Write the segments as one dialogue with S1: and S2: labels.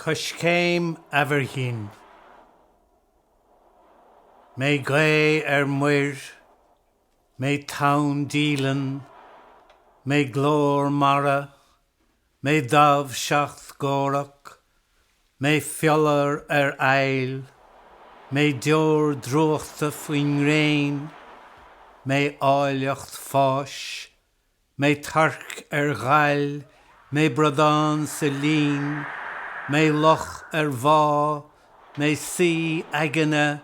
S1: Coiscéim Aimhirghin. Mé gaoth ar muir, mé tonn díleann, mé glór mara, mé damh seacht gcomhrac, mé fiolar ar fhaill, mé deoir drúchta faoin ngréin, mé áilleacht fáis, mé torc ar ghail, mé bradán sa linn, mé loch ar mhá, mé suí eagna,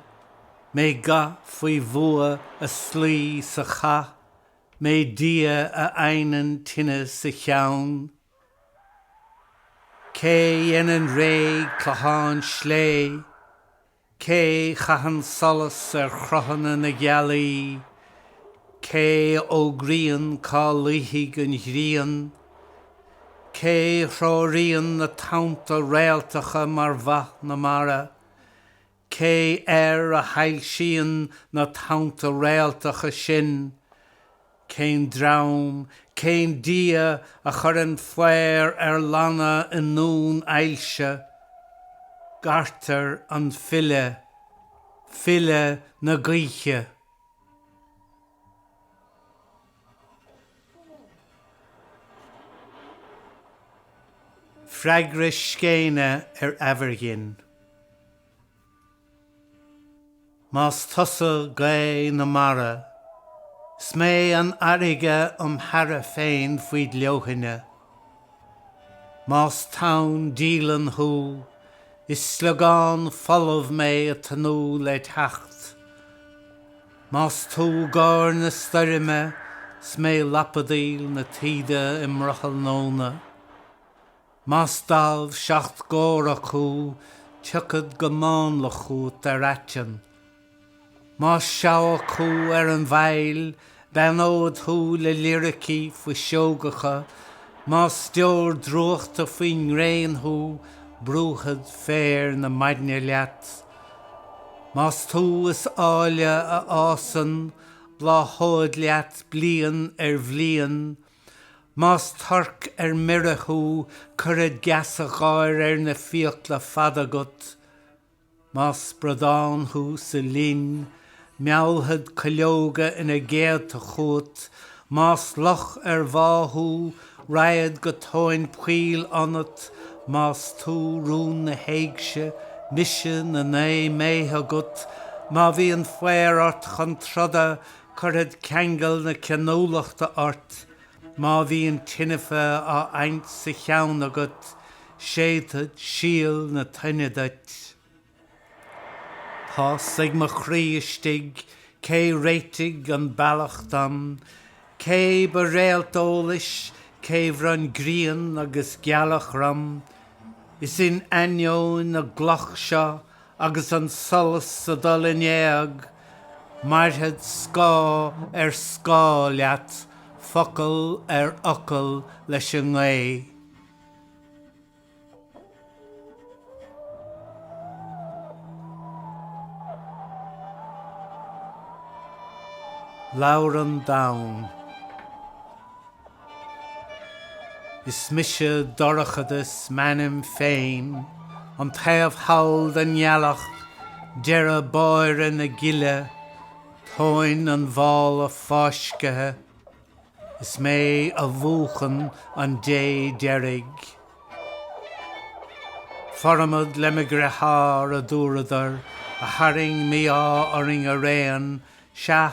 S1: mé ga faoi bhua ag slaí sa chath, mé Dia a adhnann tine sa cheann. Cé dhéanann réidh clochán sléibhe? Cé chaitheann solas ar chruthanna na gealaí? Cé fhógraíonn cá luífidh an ghrian? Cé threoraíonn na tonnta réaltacha mar bha na mara? Cé air a shoilsíonn na tonnta réaltacha sin? Cén dream, cén Dia a chuireann faobhar ar lanna i ndún ailse? Gairtear an file, file na gaoithe. Freagra Scéine ar Aimhirghin. Más tusa gaoth na mara, 'S mé an fharraige 'om shearradh féin faoid leoithne, Más tonn díleann thú, is sliogán folamh mé ag tnúth led' theacht, Más tú gáir na stoirme, 's mé lapadaíl na taoide i mbrothall nóna, Más damh seacht gcomhrac thú tiocfad go mánla chugat ar aiteann. Más seabhac thú ar an bhfaill beannód thú le liricí fuiseogacha, más deoir drúchta faoin ngréin thú brúfad féar na maidne leat. Más tú is áille a fhásann bláthód leat bliain ar bhliain, Más torc ar mire thú cuirfead geasa gáire ar na fiacla fada agat. Más bradán thú sa linn meallfad cuileoga ina gcéadta chugat. Más loch ar mhá thú raghad go tóin poill ionat. Más tú rún na héigse, mise na naoi mbéithe agat. Má bhíonn faobhar ort chun troda Cuirfead ceangal na ceanúlachta ort má bhíonn tinfeadh á adhaint sa cheann agat, séidfead síol na tine duit. Tá's ag mo chroí istigh cé réitigh an bealach dom, cé ba réalt eolais, cé bhronn grian agus gealach orm. Is in ainneoin na gcloch seo Agus an solas ag dul in éag, mairfead scáth ar scáth leat, focal ar fhocal leis an ngaoth. Labhrann Donn. Is mise Dorchadas, m'ainm féin, an taobh thall den ngealach, deireadh báire na gile, tóin an mhála fáiscthe. Is mé a mhúchann an dé deiridh. Formad le mo dheartháir, a dúradar, a tharraing mí-ádh orainn araon, sea,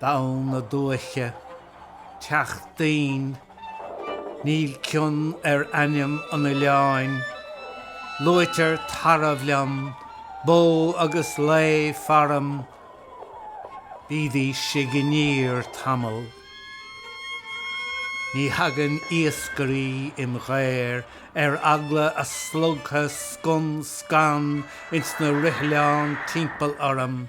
S1: Donn na Duimhche, Teach Doinn, Níl cion ar ainm an oileáin. Luaitear tarbh liom, bó agus lao faram. Bídís ag iníor tamall. Ní thagann iascairí im ghaobhar ar eagla a slogtha scun scan ins na roithleáin timpeall orm.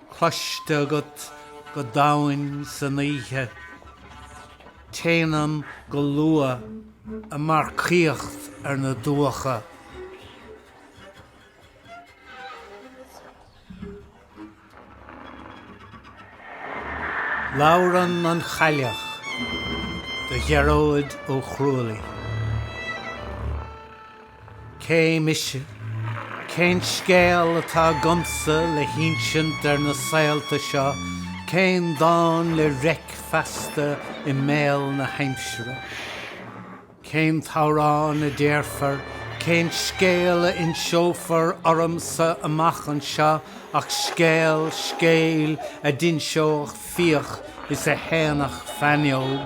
S1: cloiste agat go domhain san oíche. Téanam go luath ag marcaíocht ar na dumhcha. Labhrann an Chailleach do Ghearóid Ó Chrualaoich. Cé mise? Cén scéal atá agamsa le hinsint ar na saolta seo, cén dán le reic feasta i mbéal na haimsire? Cén t-amhrán a déarfar, cén scéal a inseofar ormsa amach anseo ach scéal scéil a d'inseodh fiach is a shéanfadh feannóg?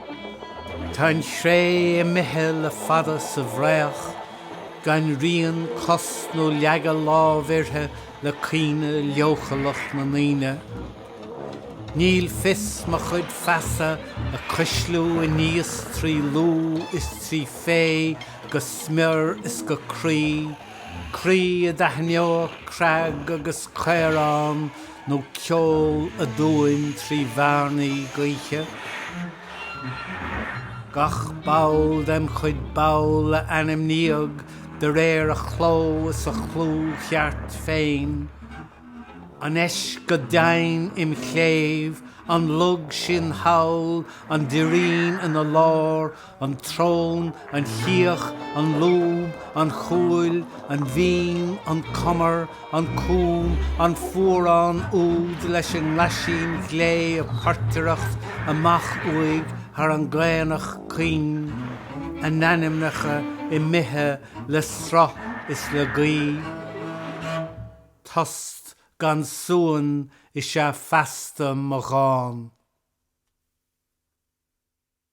S1: Tá an chré imithe le fada sa bhfraoch, gan rian cos nó leagadh lámh uirthi le cuimhne leochaileach na ndaoine. Níl fios mo chuid feasa ag cuisliú aníos trí lúth is trí fhéith go smior is go croí, croí a d'aithneodh creag agus caorán, nó ceol aduain trí bhearnaí gaoithe. Gach ball dem chuid ball a ainmníodh de réir a chló is a chlú cheart féin, an eisc go doimhin im chléibh, an log sin thall, an doirín ina lár, an tsrón, an chíoch, an lúb, an chúil, an mhín, an cumar, an cúm, an fuarán úd leis an nglaisín glé ag portaireacht amach uaidh thar an gcaonach caoin, a n-ainmneacha imithe le sruth is le gaoth. Tost gan suan is ea feasta mo dhán.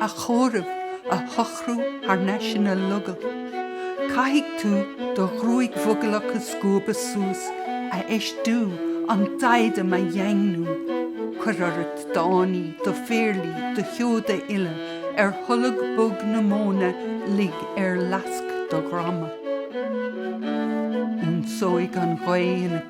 S2: a chomhaireamh a shocrú thar n-ais ina logall. Caithfidh tú do ghruaig mhogallach a scuabadh suas, a fheistiú, an diadem a dhaingniú. Cuir ort d'fháinní, do phéarlaí, do sheoda uile, ar tholg bog na móna lig ar fhleasc do dhroma. Ionsóidh an ghaoth in a.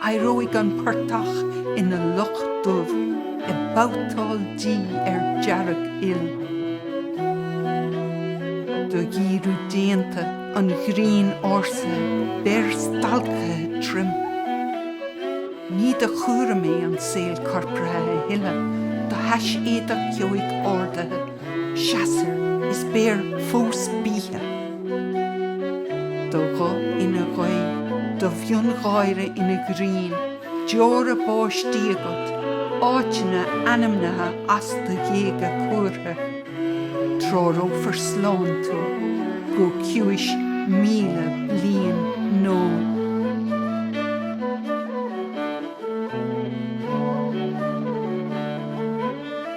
S2: Éireoidh an portach ina loch dubh ag babhtáil dí ar dearg-fhuil. Do dhíriú déanta an ghrinn ársa beir stalctha tirim. Ní do chúram é an saol corpartha a thuilleadh do thaiséadach ceoigh ardaithe. seasfair is beir fós bíthe. Do ghuth ina ghaoth, do mhiongháire ina ghrian, deora báistí agat, áiteanna ainmnithe as do ghéaga cuartha. Treorófar slán tú go ciumhais míle bliain nó.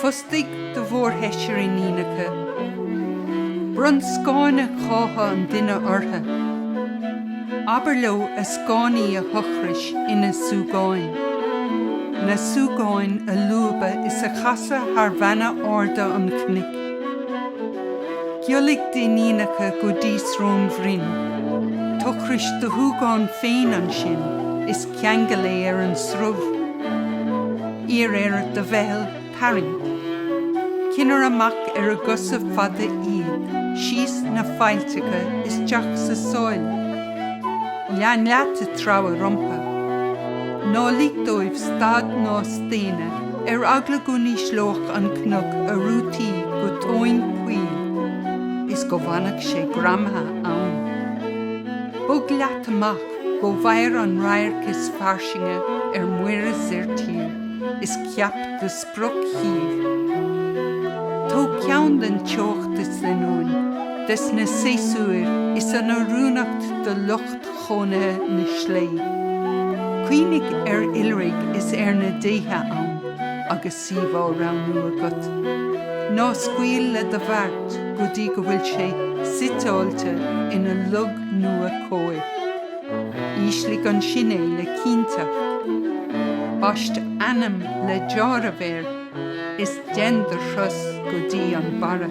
S2: Fostaigh do mhórsheisear iníonacha. Bronn scáinne chátha an duine ortha. Abair leo a scáinní a thochrais ina súgáin. Na súgáin a lúbadh is a chasadh thar bheanna arda an chnoic. Giollaigh d'iníonacha go dtí Srón Bhroin. Tochrais do shúgáin féin ansin is. ceangail é ar an srubh. Iarr ar do mheitheal tarraingt. Cinnir amach ar a gcosa fada iad síos na faillteacha isteach sa sáil. Lean leat ag treabhadh rompa. Ná lig dóibh stad ná staonadh ar eagla go n-ísleodh an cnoc a rútaí go tóin poill is go bhfanfadh sé greamaithe ann. Bog leat amach. Go bhfaighair an radharc is fairsinge ar muir is ar tír is ceap do spriocshuíomh. Tóg ceann den teocht is den uain, des na séasúir is an oiriúnacht do lucht chónaithe na slé. Cuimhnigh ar oilithrigh is ar na déithe ann agus. suíomh á roghnú agat. Ná scaoil le do bheart go dtí go bhfuil sé suiteáilte ina log nua cóir. Ísligh ansin é le cinnteacht. Baist ainm le deáramh air is dein do thuras go dtí an barra.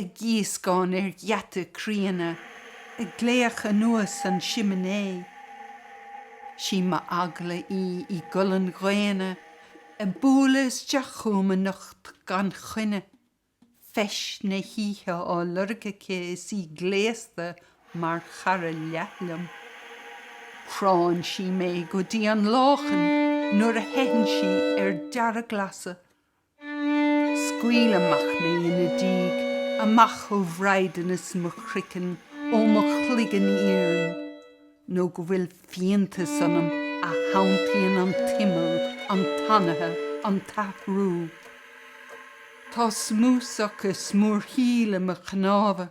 S2: ag gíoscán ar gheata críona, ag glaoch anuas an siminé. Sí m'eagla í i gcolainn dhaonna ag bualadh isteach chugam anocht gan choinne, feis na hoíche á lorg aici is í gléasta mar chara liath liom. Cránn sí mé go dtí an láchan nuair a theitheann sí ar dearglasadh. Scaoil amach mé ina diaidh, amach ó bhraighdeanas mo chroicinn, ó mo chloigeann iarainn, nó go bhfuil fiántas ionam a shantaíonn an t-imeall, an t-anaithe, an t-athrú. Tá smúsach is smúrthaíl in mo chnámha,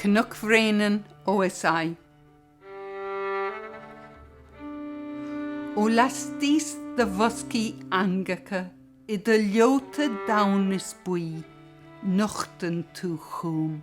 S2: Cnoc Bhréanainn OSI Ó laistíos do bhoscaí eangacha i do leota donn is buí nochtann tú chúm.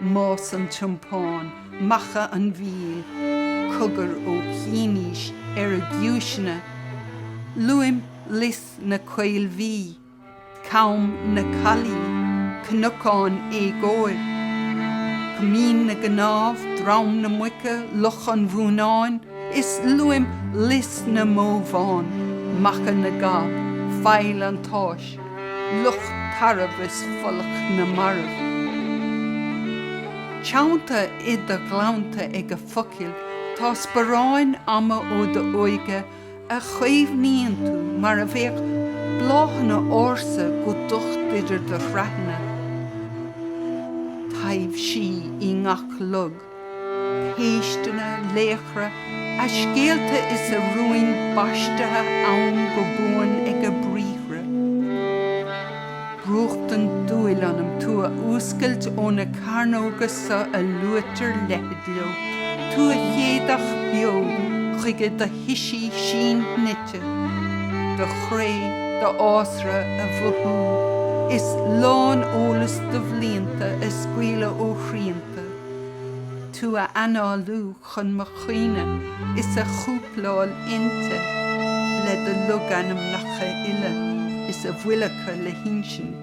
S2: Más an Tiompáin Macha an Mhíl, cogar ó chianaois ar a giúiseanna. Luaim Lios na Caolbhuí, Com na Caillí, Cnocán Éagóir, Coimín na gCnámh, Drom na Muice, Loch an Mhónáin, is luaim Lios na mBó Bhán, Macha na gCab, Faill an tSáis, Loch Tarbh is Folach na Marbh. Teannta i do ghleannta ag a focail tá sparáin ama ó d'óige a chaomhnaíonn tú mar a bheadh bláthanna ársa go docht idir do shraitheanna. Taibhsí i ngach log. péisteanna, laochra, a scéalta is a rúin baistithe ann go buan ag a briathra. Brúchtann dúil ionam tú a fhuascailt ó na cearnóga so a luaitear leithead leo, tú a chéadach beo chuige do thoisí síon-shnoite, do chré, do fhásra, a mhothú, is lán-eolas do bhlianta a scaoileadh ó shrianta. tú a análú chun mo chuimhne is a chúpláil inti le do logainmneacha uile is a bhfuil acu le hinsint.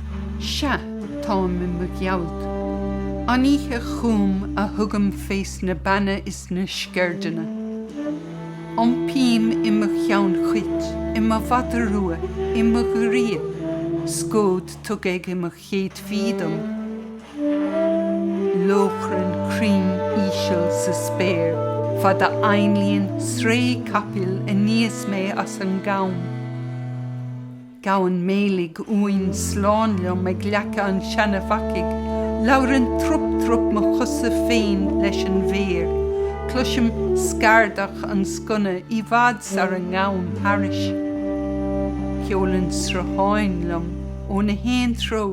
S2: Sea, táim i mo ghealt. An oíche chúm a thugaim fés na beanna is na sceirdeanna. Iompaím i mo cheann chuit, i mo mhada rua, i mo ghiorria, scód tugtha ag mo chéadfaí dom, lóchrann cruinn íseal sa spéir fad a ainlíonn sraoth capaill aníos mé as an gcom. Gabhann méiligh uain slán liom ag leaca an Seana Bhacaigh, labhrann trup trup mo chosa féin leis an bhféar, cloisim scardach an sconna i bhfad sara ngabhann thairis. Ceolann srutháin liom ó na haon treo,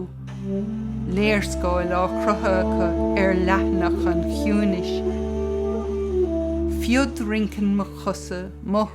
S2: léarscáil á cruthú acu ar leathanach an chiúinis. Fiodrinceann mo chosa, mo.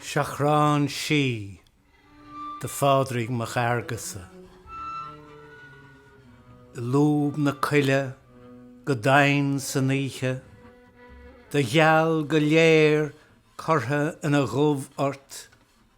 S1: Seachrán Sí do Phádraig Mac Fhearghusa. I lúb na coille go doimhin san oíche, Do gheal go léir curtha ina dhubh ort,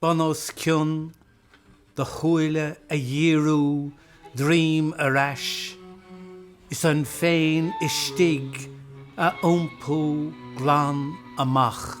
S1: bun os cionn do shúile a dhíriú droim ar ais is an féin istigh a iompú glan amach.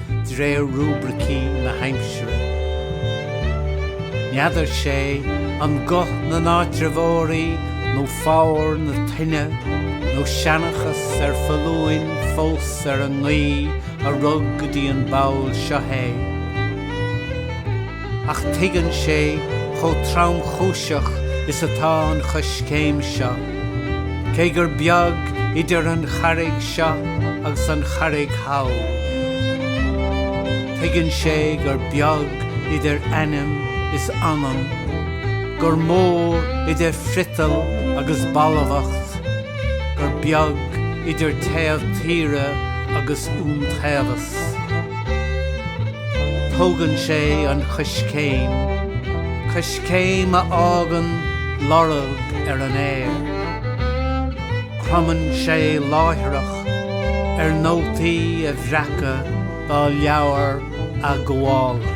S1: d'réir rúibricí na haimsire. N'fheadar 'sé an guth na n-áitreabhóirí nó foghar na toinne nó seanchas ar foluain fós ar an ngaoth a rug go dtí an ball seo é. ach tuigeann sé chomh tromchúiseach is atá an choiscéim seo. Cé gur beag idir an charraig seo agus an charraig thall, tuigeann sé gur beag idir ainm is anam, gur mór idir friotal agus balbhacht, gur beag idir taobh tíre agus iontaobhas. Tógann sé an choiscéim, coiscéim a fhágann lorg ar an aer. Cromann sé láithreach ar nótaí a bhreacadh dá leabhar athghabhála.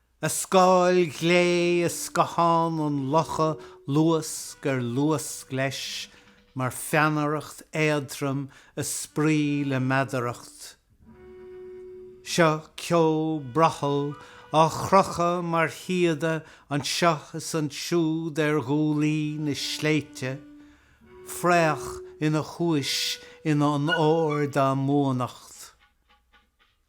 S1: A scáil ghlé i scáthán an locha luasc ar luasc leis mar pheannaireacht éadrom ag spraoi le meadaracht. Seo ceo brothaill á chrochadh mar shíoda anseo is ansiúd ar ghuaillí na sléibhte, fraoch ina thúis in onóir dá mbuannacht.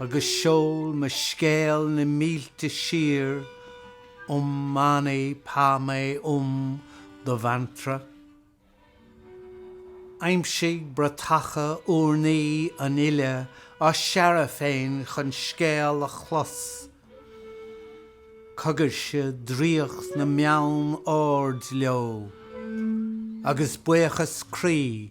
S1: agus seol mo scéal na mílte siar om mani padme hum do mhantra. Aimsigh bratacha urnaí an uile á searradh féin chun scéal a chlos. Cogairse draíocht na mbeann ard leo, agus buíochas croí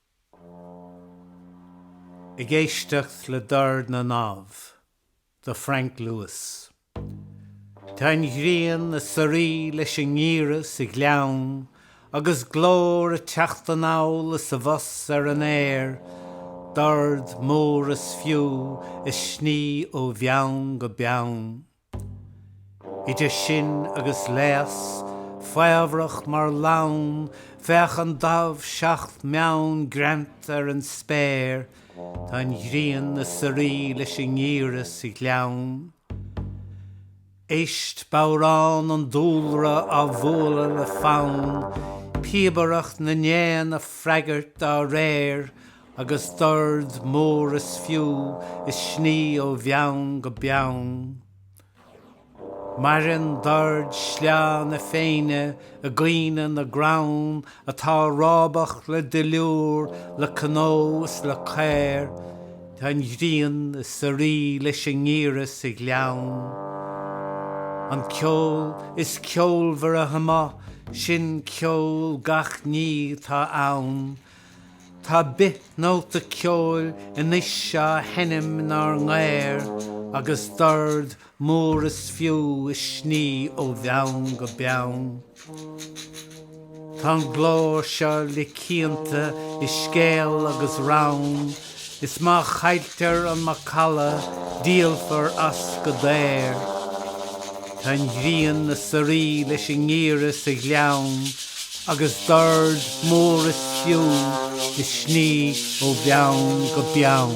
S1: Ag éisteacht le dord na ndamh do Frank Lewis. Tá an ghrian ag suirí leis an ngeimhreadh sa ghleann agus glór ag teacht anall is abhus ar an aer, dord mór is fiú ag sní ó bheann go beann. Idir sinn agus léas faobhrach mar lann féach an damh 7 mbeann greanta ar an spéir tá an ghrian ag suirí leis an ngeimhreadh sa ghleann. Éist bodhrán an dúlra á bhualadh le fonn, píobaireacht na n-éan ag freagairt dá réir Agus dord mór is fiú ag sní ó bheann go beann. Maireann dord sleá na Féinne i gcaoineadh na gcrann atá rábach le duilliúr, le cnó is le caor, tá an ghrian ag suirí leis an ngiorria sa ghleann. An ceol is ceolmhaire amuigh, sin ceol gach ní atá ann. Tá bith-nóta ceoil anois á sheinm inár ngaor agus dord mór is fiú ag sní ó bheann go beann. Tá an glór seo le cianta i scéal agus rann. Is má chailltear an macalla díolfar as go daor. Tá an ghrian ag suirí leis an ngiorria sa ghleann agus dord mór is fiú ag sní ó bheann go beann.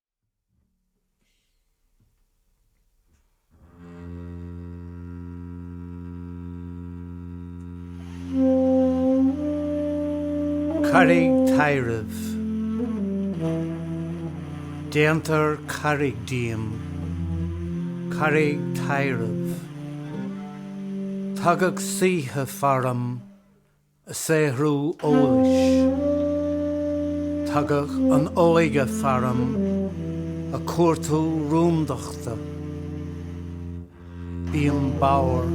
S1: Carraig Tairbh. Déantar carraig díom, carraig tairbh. Tagadh saoithe faram ag saothrú eolais. Tagadh an óige faram ag cuartú rúndachta. Bím bodhar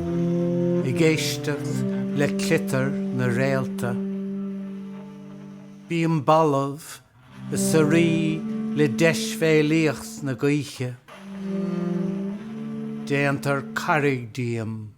S1: ag éisteacht le cliotar na réalta. Bím balbh ag suirí le deisbhéalaíocht na gaoithe. Déantar carraig díom.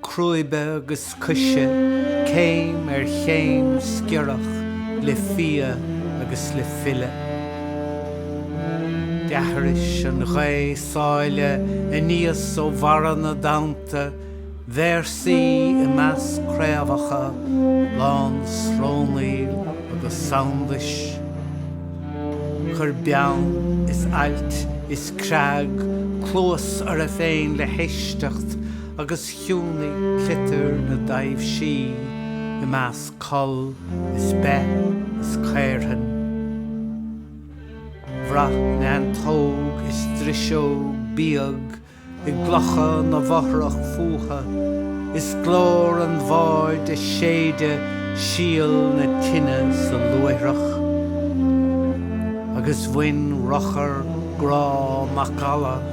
S1: Crúibe agus coise, céim ar chéim sciorrach le fia agus le file. D'aithris an Ghaoth Sáile aníos ó bharra na dtonnta, véarsaí i measc craobhacha lán srónaíl agus sondais. Chuir beann is ailt is creag cluas orthu féin le héisteacht, agus chiúnaigh cliotar na dtaibhsí i measc coll is beith is caorthann. Bhraith neantóg is driseog bíog i gclocha na bhfothrach fútha, is glór an bhaird ag séideadh síol na tine sa luaithreach. Agus bhain ruchar grá macalla.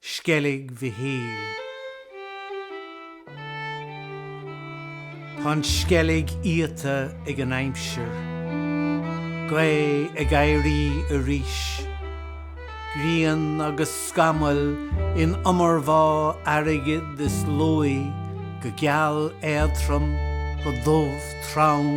S1: Sceilg Mhichíl. Tá an sceilg iata ag an aimsir. Gaoth ag éirí arís. Grian agus scamaill in iomarbhá airgid is luaidhe go geal éadrom go dubh trom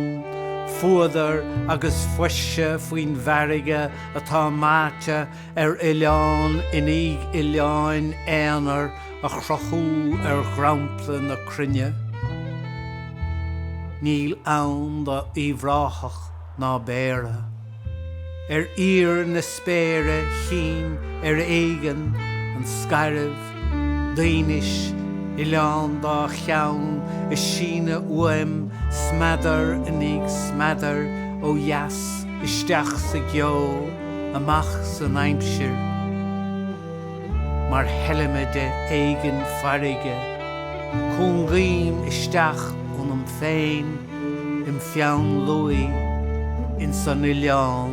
S1: fuadar agus fuirse faoin bhfarraige atá meáite ar oileán i ndiaidh oileáin aonair a chruthú ar dhromchla na cruinne. Níl ann do Uíbh Ráthach ná Béarra. Ar íor na spéire chím ar éigean an Scairbh. Duínis Oileán dá cheann ag síneadh uaim smeadar i ndiaidh smeadar ó dheas isteach sa gceo amach san aimsir mar sheilimide éigin farraige. Cúngaím isteach ionam féin im pheann luaidhe ins an Oileán.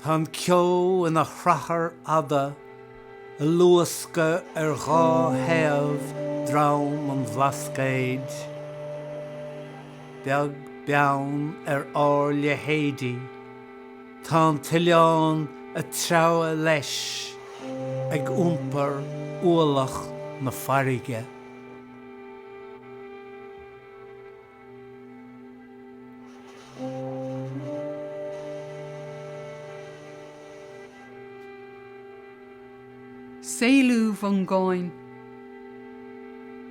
S1: Tá an ceo ina shrathair fhada ag luascadh ar dhá thaobh drom an Bhlascaoid. Beag beann ar ár leithéidí tá an t-oileán ag treabhadh leis ag iompar ualach na farraige.
S2: Saolú Mhongáin.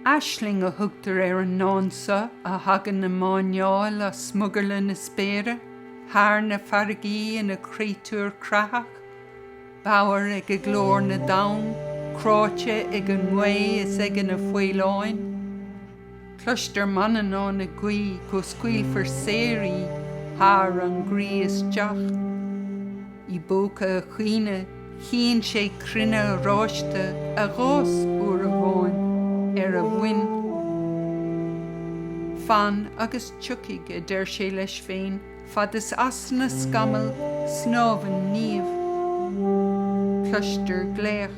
S2: Aisling a thugtar ar an ndán so a thagann ag máinneáil as smugairle na spéire thar na farraigí ina créatúr creathach, bodhar ag glór na dtonn, cráite ag an ngaoth is ag na faoileáin. Cloistear Manannán ag guí go scaoilfear saor í thar an gcroí isteach. I bpóca a chaoineadh chíonn sé cruinne oráiste a dh'fhás uair amháin ar a mhuin. Fan agus tiocfaidh, a deir sé leis féin, fad is as na scamaill snámhann Niamh. Cloistear glaoch.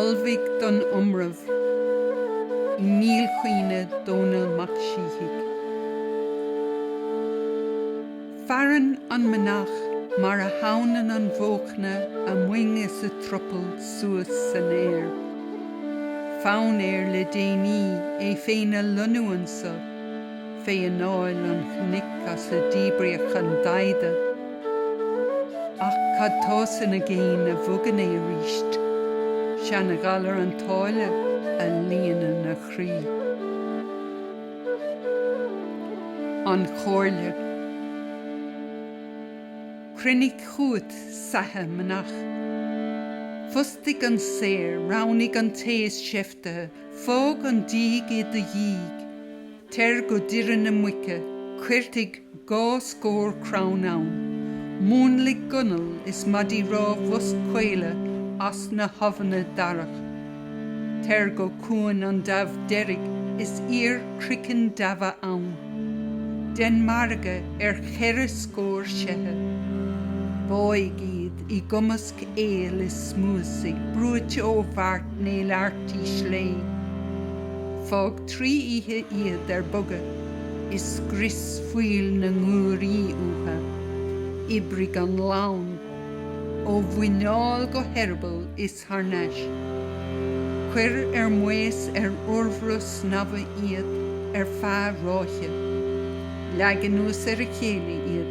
S2: Ullmhaigh don iomramh i ndílchuimhne Dhomhnaill Mac Síthigh. Faireann an manach mar a theannann an bhóchna a muing is a triopaill suas san aer. Fonn air le déanaí é féin a lonnú anso, fé anáil an chnoic as a díbríodh an Daghda. Ach cad tá san aigéan a bhogann é aríst? Seana-ghalar an tsáile a líonann a chroí. An Chomhairle. Cruinnigh chughat saithe manach. Fostaigh an saor, roghnaigh an té is seiftithe, fág an díg i do dhiaidh. Teir go Doire na Muice, coirtigh dhá scór crann ann. Múnlaigh gunail is maidí rámha boschaola as na habhanna darach. Teir go Cuan an Damh Deirg is iarr croiceann damha ann. Dein margadh ar cheithre scór seithe. Báigh iad i gcumasc aoil is smúsaigh brúite ó bheart néalfartaí sléibhe. Trí oíche iad ar bogadh is scrios fuíoll na nguairí uathu. Oibrigh an lann. Ó mhuineál go heireaball is thar n-ais. Cuir ar maos ar urbhruith snamha iad ar feadh ráithe. Leag anuas ar a chéile iad.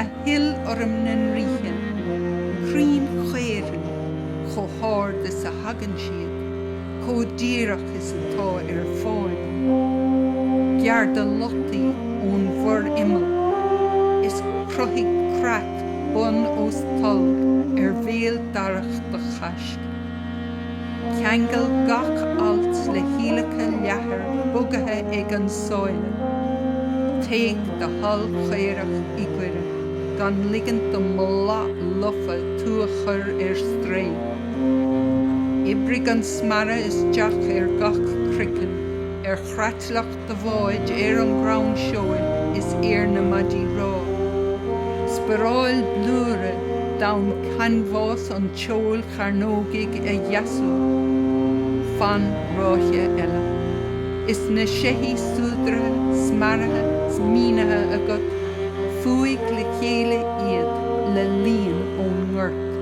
S2: a shil orm na ndraoithe crainn chaorthainn chomh hard is a thagann siad, chomh díreach is atá ar fáil, gearr do lataí ón bhforimeall, is cruthaigh creat bun os talamh ar bhéal darach do chaisc. Ceangail gach alt le hiallacha leathair bogaithe ag an sáile. Téigh do shaill chaorach i gcoire gan ligint don mboladh lofa tú a chur ar strae. Oibrigh an smearadh isteach ar gach croiceann ar chreatlach do bháid ar an gcrann seoil is ar na maidí rámha. Sparáil blúire d'fhonn canbhás an tseoil chearnógaigh a dheasú. Fan ráithe eile. Is na seithí súdaraithe, smearaithe 's mínithe agat, fuaigh le chéile iad le líon ón ngort.